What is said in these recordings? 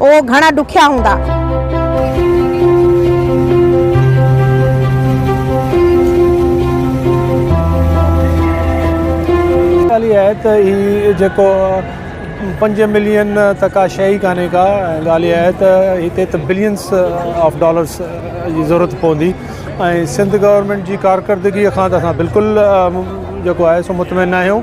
اهي گهڻا ڏکيا هوندا. ڳالهه اها آهي ته هي جيڪو پنج ملين ته ڪا شيء ئي ڪانهي ڪا. ڳالهه اها آهي ته هتي ته بلينس آف ڊالرس جي ضرورت پوندي ۽ سنڌ گورنمينٽ جي ڪارڪردگيء کان ته اسان بلڪل جيڪو آهي سو مطمئن ناهيون.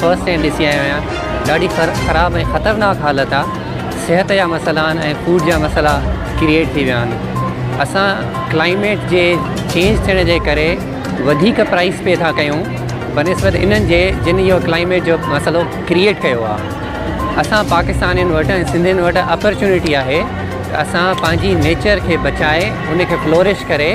فرسٽ ايڊ ڏسي آيو آهيان ڏاڍي خراب ۽ خطرناڪ حالت آ صحت جا مسئلا آهن ۽ فوڊ جا مسئلا ڪريئيٽ ٿي ويا آهن اسان ڪلائميٽ جي چينج ٿيڻ جي ڪري وڌيڪ پرائس پي ٿا ڪيون بنسبت انهن جي جن اهو ڪلائميٽ جو مسئلو ڪريئيٽ ڪيو آ اسان پاڪستانين وٽ ۽ سنڌين وٽ اپرچونيٽي آهي ته اسان پنهنجي نيچر کي بچائي ان کي فلورش ڪري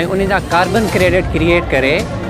۽ ان جا ڪاربن ڪريڊٽ ڪريئيٽ ڪري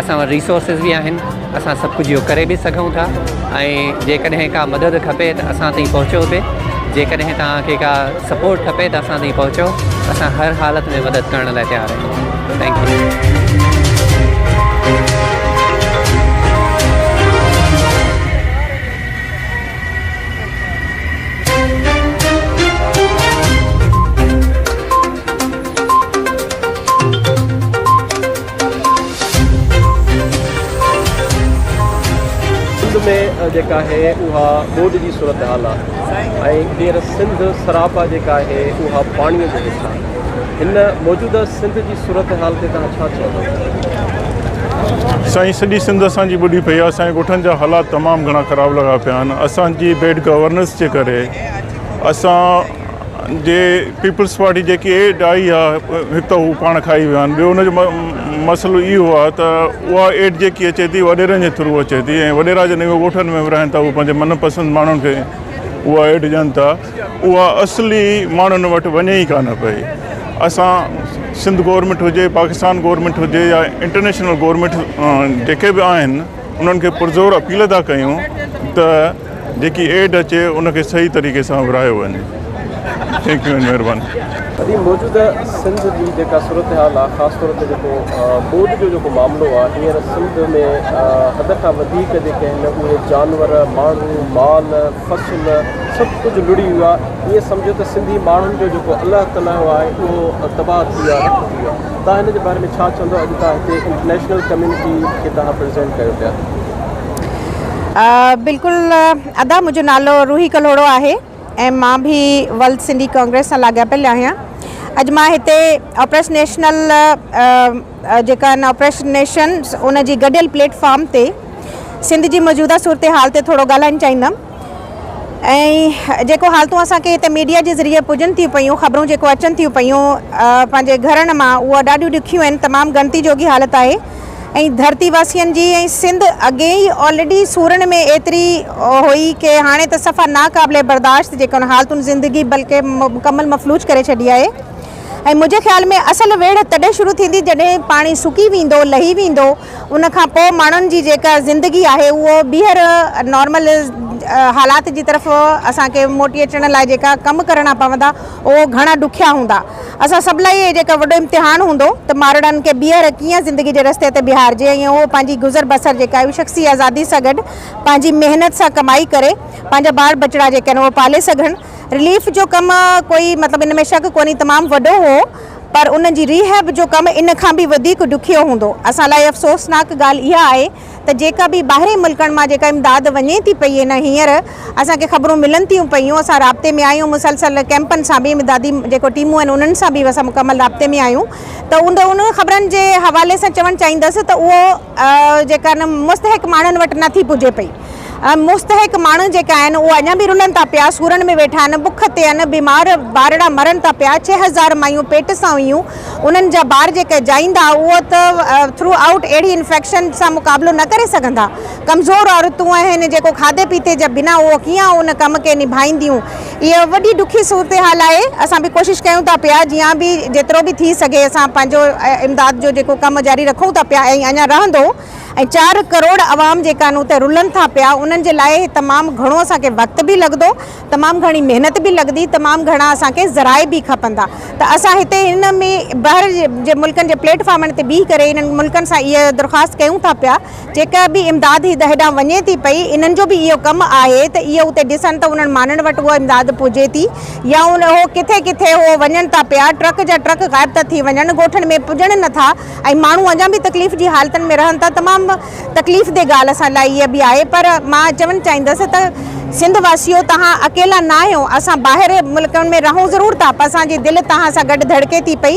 اسان وٽ ريسورسز به آهن اسان سڀ ڪجهه اهو ڪري به سگهون ٿا ۽ جيڪڏهن ڪا مدد کپي ته اسان تائين پهچو به جيڪڏهن توهان کي ڪا سپورٽ کپي ته اسان تائين پهچو اسان هر حالت ۾ مدد ڪرڻ لاء تيار آهيون ٿينڪ يو سنڌ ۾ جيڪا آهي اها ٻوڏ جي صورتحال آهي ۽ هينئر سنڌ سراپا جيڪا آهي اها پاڻيء جي هيٺ آهي. هن موجوده سنڌ جي صورتحال تي توهان ڇا چوندؤ؟ سائين سڄي سنڌ اسان جي ٻڏي پئي آهي اسان جي ڳوٺن جا حالات تمام گهڻا خراب لڳا پيا آهن اسان جي بيڊ گورننس جي ڪري اسان جي پيپلز پارٽي جيڪي ايڊ آئي آ هڪ ته هو پاڻ کائي ويا آهن ٻيو ان جو مسئلو اهو آ ته اها ايڊ جيڪي اچي ٿي وڏيرن جي ٿرو اچي ٿي ۽ وڏيرا جڏهن اهي ڳوٺن ۾ رهن ٿا اهي پنهنجي من پسند ماڻهن کي اها ايڊ ڏين ٿا اها اصلي ماڻهن وٽ وڃي ئي ڪانه پئي اسان سنڌ گورنمينٽ هجي پاڪستان گورنمينٽ هجي يا انٽرنيشنل گورنمينٽ جيڪي به آهن انهن کي پرزور اپيل ٿا ڪيون ته جيڪي ايڊ اچي ان کي صحيح طريقي سان ورهايو وڃي ٿينڪ يو اينڊ مهرباني. ادي موجوده سنڌ جي جيڪا صورتحال آ خاص طور تي جيڪو ٻوڏ جو جيڪو معاملو آ هينئر سنڌ ۾ حد کان وڌيڪ جيڪي آهن اهي جانور ماڻهو مال فصل سڀ ڪجهه لڙي ويو آ ائين سمجهو ته سنڌي ماڻهن جو جيڪو الله تلايو آهي اهو تباهه ٿي ويو آ رک ٿي ويو آ تان هن جي باري ۾ ڇا چوندو اڄ تان هتي انٽرنيشنل ڪميونٽي کي تان پريزينٽ ڪيو پيا. بلڪل ادا منهنجو نالو روحي ڪلهوڙو آهي ۽ مان به ولد سنڌي ڪانگريس سان لاڳاپيل آهيان اڄ مان هتي آپريس نيشنل جيڪا آهن آپريس نيشن ان جي گڏيل پليٽ فارم تي سنڌ جي موجوده صورتحال تي ٿورو ڳالهائڻ چاهيندم ۽ جيڪو حالتون اسان کي هتي ميڊيا جي ذريعي پڄن ٿيون پيون، خبرون جيڪو اچن ٿيون پيون پنهنجي گهرن مان اهو ڏاڍيون ڏکيون آهن، تمام ڳڻتي جوڳي حالت آهي ۽ ڌرتي واسين جي ۽ سنڌ اڳي ئي آلريڊي سورن ۾ ايتري هئي ڪي هاڻي ته صفا ناقابل برداشت جيڪي ان حالتن زندگي بلڪه مڪمل مفلوج ڪري ڇڏي آهي ۽ منهنجي خيال ۾ اصل ويڙهه تڏهن شروع ٿيندي جڏهن پاڻي سڪي ويندو لهي ويندو ان کان پوء ماڻهن جي جيڪا زندگي آهي اهو ٻيهر نارمل حالات جي طرف اسان کي موٽي اچڻ لاء جيڪا ڪم ڪرڻا پوندا اهو گهڻا ڏکيا هوندا اسان سڀ لاء اهو جيڪا وڏو امتحان هوندو ته مارڙن کي ٻيهر ڪيئن زندگي جي رستي تي بيهارجي ۽ اهو پنهنجي گذر بسر جيڪا آهي شخصي آزادي سان گڏ پنهنجي محنت سان ڪمائي ڪري پنهنجا ٻار ٻچڙا جيڪا آهن اهو پالي سگهن رليف جو ڪم ڪوئي مطلب ان ۾ شڪ ڪونهي تمام وڏو هو پر ان جي ري هيب جو ڪم ان کان به وڌيڪ ڏکيو هوندو. اسان لاء افسوسناڪ ڳالهه اها آهي ته جيڪا به ٻاهرين ملڪن مان جيڪا امداد وڃي ٿي پئي ان هينئر اسان کي خبرون ملن ٿيون پيون اسان رابطي ۾ آهيون مسلسل ڪئمپن سان به امدادي جيڪو ٽيمون آهن انهن سان به اسان مڪمل رابطي ۾ آهيون ته ان خبرن جي حوالي سان چوڻ چاهيندس ته اهو جيڪا مستحق ماڻهن وٽ نه ٿي پڄي پئي ۽ مستحق ماڻهو جيڪا آهن اهي اڃا به رلن ٿا پيا سورن ۾ ويٺا آهن بک تي آهن بيمار ٻارڙا مرن ٿا پيا ڇهه هزار مايون پيٽ سان هيون انهن جا ٻار جيڪا جائيندا اهي ته ٿرو آئوٽ اهڙي انفيڪشن سان مقابلو نه ڪري سگهندا ڪمزور عورتون آهن جيڪو کاڌي پيتي جا بنا اهي ڪيئن ان ڪم کي نڀائينديون اها وڏي ڏکي صورتحال آهي، اسان به ڪوشش ڪيون ٿا پيا جيان به جيترو به ٿي سگهي اسان پنهنجو امداد جو جيڪو ڪم جاري رکون ٿا پيا ۽ اڃا رهندو ۽ چار ڪروڙ عوام جيڪا انهون تي رلن ٿا پيا انهن جي لاء تمام گهڻو اسان کي وقت به لڳندو تمام گهڻي محنت به لڳندي تمام گهڻا اسان کي ذرائع به کپندا ته اسان هتي هن ۾ ٻاهر جي ملڪن جي پليٽ فارمن تي بيهي ڪري انهن ملڪن سان اها درخواست ڪيون ٿا پيا جيڪا به امداد هي دهه ڏانهن وڃي ٿي پئي، انهن جو به اهو ڪم آهي ته اهي اتي ڏسن ته انهن ماڻهن وٽ اها امداد پهجي ٿي يا ان اهو ڪٿي ڪٿي اهو وڃن ٿا پيا ٽرڪ جا ٽرڪ غائب ٿا ٿي وڃن ڳوٺن ۾ پڄن نه ٿا ۽ ماڻهو اڃان به تڪليف جي حالتن ۾ رهن ٿا تمام تڪليف دي ڳالهه اسان لاء اها به آهي پر مان چوڻ چاهيندس ته سنڌ واسيو توهان اڪيلا ناهيو اسان ٻاهر ملڪن ۾ رهون ضرور ٿا پر اسان جي دل توهان سان گڏ ڌڙڪي ٿي پئي.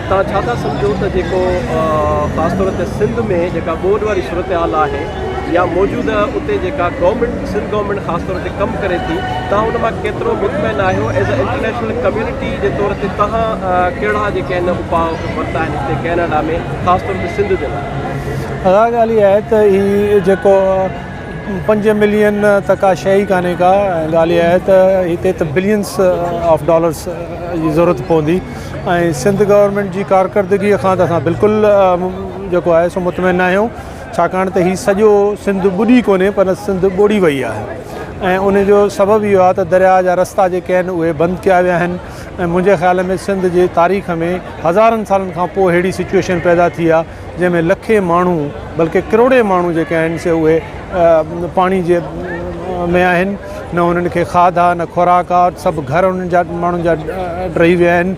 توهان ڇا ٿا سمجهو ته جيڪو خاص طور تي سنڌ ۾ جيڪا ٻوڏ واري صورتحال آهي يا موجوده اتي جيڪا گورنمينٽ سنڌ گورنمينٽ خاص طور تي ڪم ڪري ٿي توهان ان مان ڪيترو مطمئن آهيو ايز اي انٽرنيشنل ڪميونٽي جي طور تي توهان ڪهڙا جيڪي آهن اپاء ورتا آهن هتي ڪينيڊا ۾ خاص طور تي سنڌ جي لاء اها ڳالهه اها آهي ته هي جيڪو پنج ملين ته ڪا شيء ئي ڪانهي ڪا ڳالهه اها آهي ته هتي ته بلينس آف ڊالرس جي ضرورت پوندي ۽ سنڌ گورنمينٽ جي ڪارڪردگي کان ته اسان بلڪل جيڪو آهي سو مطمئن ناهيون ڇاڪاڻ ته هي سڄو سنڌ ٻڏي ڪونهي پر سنڌ ٻوڙي وئي آهي ۽ ان جو سبب اهو آهي ته درياء جا رستا جيڪي آهن اهي بند ڪيا ويا آهن ۽ منهنجي خيال ۾ سنڌ جي تاريخ ۾ هزارن سالن کان پوء اهڙي سچويشن پيدا ٿي آهي جنهن ۾ لکين ماڻهو بلڪه ڪروڙين ماڻهو جيڪي آهن سي اهي پاڻي جي ۾ آهن نه انهن کي کاڌ آهي نه خوراڪ آهي سڀ گهر انهن جا ماڻهن جا ڊهي ويا آهن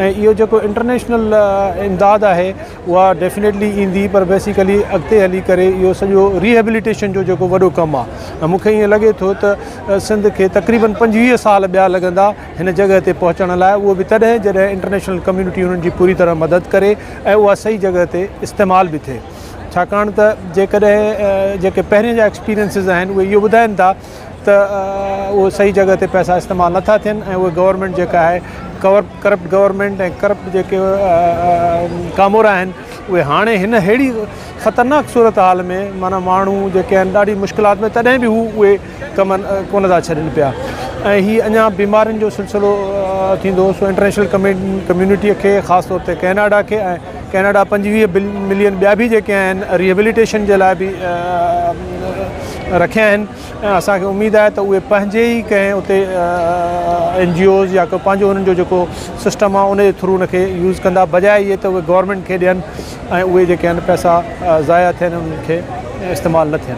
۽ اهو جيڪو انٽرنيشنل امداد آهي اها ڊيفنيٽلي ايندي پر بيسيڪلي اڳتي هلي ڪري اهو سڄو ريهبليٽيشن جو جيڪو وڏو ڪم آهي مون کي ائين لڳي ٿو ته سنڌ کي تقريبن پنجويهه سال ٻيا لڳندا هن جڳهه تي پهچڻ لاء اهو به تڏهن جڏهن انٽرنيشنل ڪميونٽي انهن جي پوري طرح مدد ڪري ۽ اها صحيح جڳهه تي استعمال به ٿئي ڇاڪاڻ ته جيڪڏهن جيڪي پهرين جا ايڪسپيرينسز آهن اهي اهو ٻڌائن ٿا ته اهي صحيح جڳهه تي پئسا استعمال نٿا ٿين ۽ اهي گورنمينٽ جيڪا آهي ڪور ڪرپٽ گورنمينٽ ۽ ڪرپٽ جيڪي ڪامورا آهن اهي هاڻي هن ههڙي خطرناڪ صورتحال ۾ معنيٰ ماڻهو جيڪي آهن ڏاڍي مشڪلات ۾ تڏهن به هو اهي ڪم ڪونه ٿا ڇڏين پيا ۽ هي اڃا بيمارين جو سلسلو ٿيندو سو انٽرنيشنل ڪميونٽي کي خاص طور تي ڪيناڊا کي ۽ ڪيناڊا پنجويهه ملين ٻيا به جيڪي آهن ريهبليٽيشن جي لاء به رکيا آهن ۽ اسانکي اميد آهي ته اهي پنهنجي ئي ڪنهن اتي اين جي اوز يا ڪو پنهنجو انهن جو جيڪو سسٽم آهي ان جي ٿرو ان کي يوز ڪندا بجاء اهي ته اهي گورنمنٽ کي ڏين ۽ اهي جيڪي آهن پئسا ضايع ٿين انهن کي استعمال نه ٿين